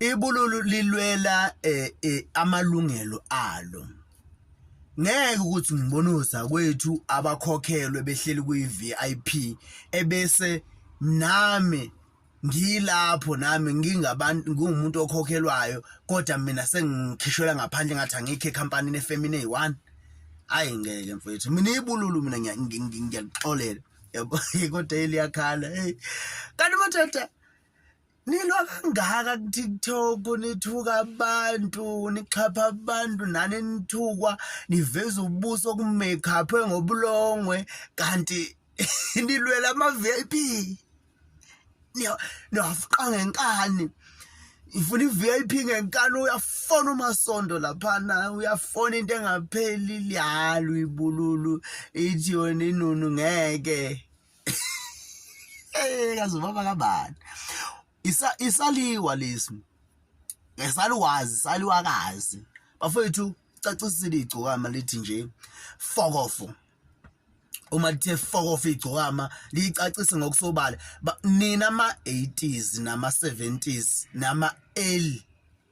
ibululu lilwela eh, eh, amalungelo alo ngeke ukuthi ngibonuza kwethu abakhokhelwe behleli kuyi-vip ebese nami ngilapho nami ngingabantu ngingumuntu okhokhelwayo kodwa mina sengikhishwela ngaphandle ngathi angikho ekhampanini efemini eyi-one ayi ngeke mfethu mina ibululu mina ngiyakuxolela yabo kodwa eliyakhala kanti madoda nilwa kangaka kutiktok nithuka abantu nixhapha abantu nani nithukwa niveza ubuso kumakeuphwe ngobulongwe kanti nilwela ama-vip niyafuqa ngenkani ifuna i-vip ngenkani uyafona umasondo laphana uyafona into engapheli liyalo ibululu ithi yona inunu ngeke eh kaze baba kabani isa isaliwa lesi ngesaluwazi saliwakazi bafethu cacisile igcokama lithi nje fokofo uma lithe fokofo igcokama liyicacise ngokusobala nina ama 80s nama 70s nama early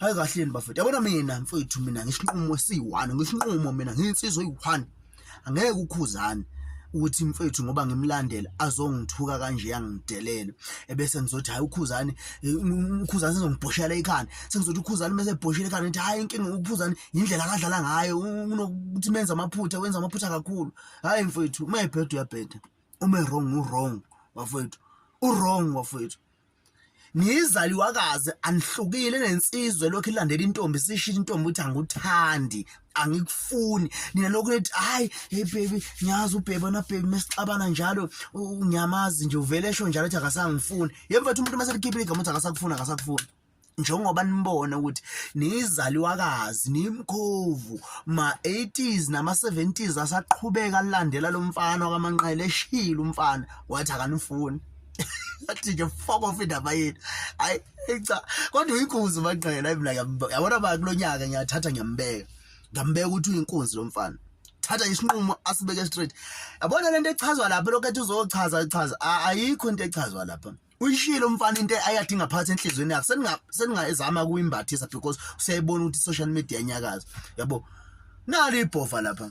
hayi kahleni bafethu yabona mina mfethu mina ngisinqumo esiyi-one ngisinqumo mina ngiyinsizwa eyi-one angeke ukhuzane ukuthi mfethu ngoba ngimlandela azongithuka kanje yangidelela ebese ngizothi hayi ukhuzani ukhuzani sezongibhoshela ikhanda sengizothi ukhuzani mase ebhoshela ikhanda ngithi hayi inkinga ukhuzani indlela akadlala ngayo unokuthi menza amaphutha wenza amaphutha kakhulu hayi mfethu uma ebheda uyabheda uma wrong u wrong bafethu u wrong bafethu niyizaliwakazi anihlukile nensizwe lokhu ilandela intombi sisho intombi ukuthi anguthandi angikufuni nina lokhu nithi hayi hey baby ngiyazi ubheba na baby mesixabana njalo ngiyamazi nje uvele esho njalo ukuthi akasangifuni yemva umuntu mase likhipha igama ukuthi akasakufuni akasakufuni njengoba nimbona ukuthi niyizaliwakazi nimkhovu ma-80s nama-70s asaqhubeka alandela lo mfana wakamanqele eshile umfana wathi akanifuni athi nje fuck off indaba yethu hayi cha kodwa uyinkunzi umanqele mina yabona ba kulo nyaka ngiyathatha ngiyambeka ngambeka ukuthi uyinkunzi lo mfana thatha isinqumo asibeke straight yabona lento echazwa lapha lokho ethi uzochaza echaza ayikho into echazwa lapha uyishilo umfana into ayathi ingaphathi enhlizweni yakhe seninga seningayizama kuyimbathisa because usiyayibona ukuthi social media iyanyakaza yabo nali ibhova lapha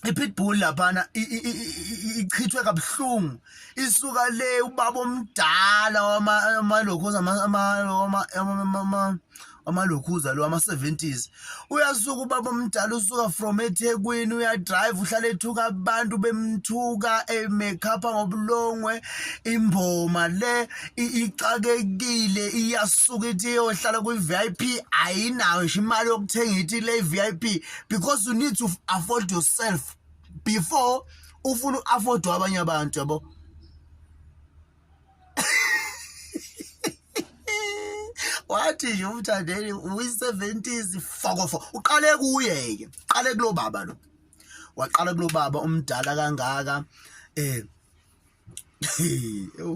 ipitbull laphana ichithwe kabuhlungu isuka le ubaba omdala wama lokho ama ama amalokhuza lo ama-70s uyasuka ubaba omdala usuka from ethekwini uyadrive uhlala ethuka abantu bemthuka emekhapha ngobulongwe imboma le ixakekile iyasuka ithi iyohlala kwi-v i p ayinayo nje imali yokuthenga ithi le i-v i p because you need to afford yourself before ufuna u-affordwa abanye abantu yabo wathi nje umthandeni uyi-70s fokofo uqale kuye-ke uqale kulo baba lo waqala kulo baba umdala kangaka um ewu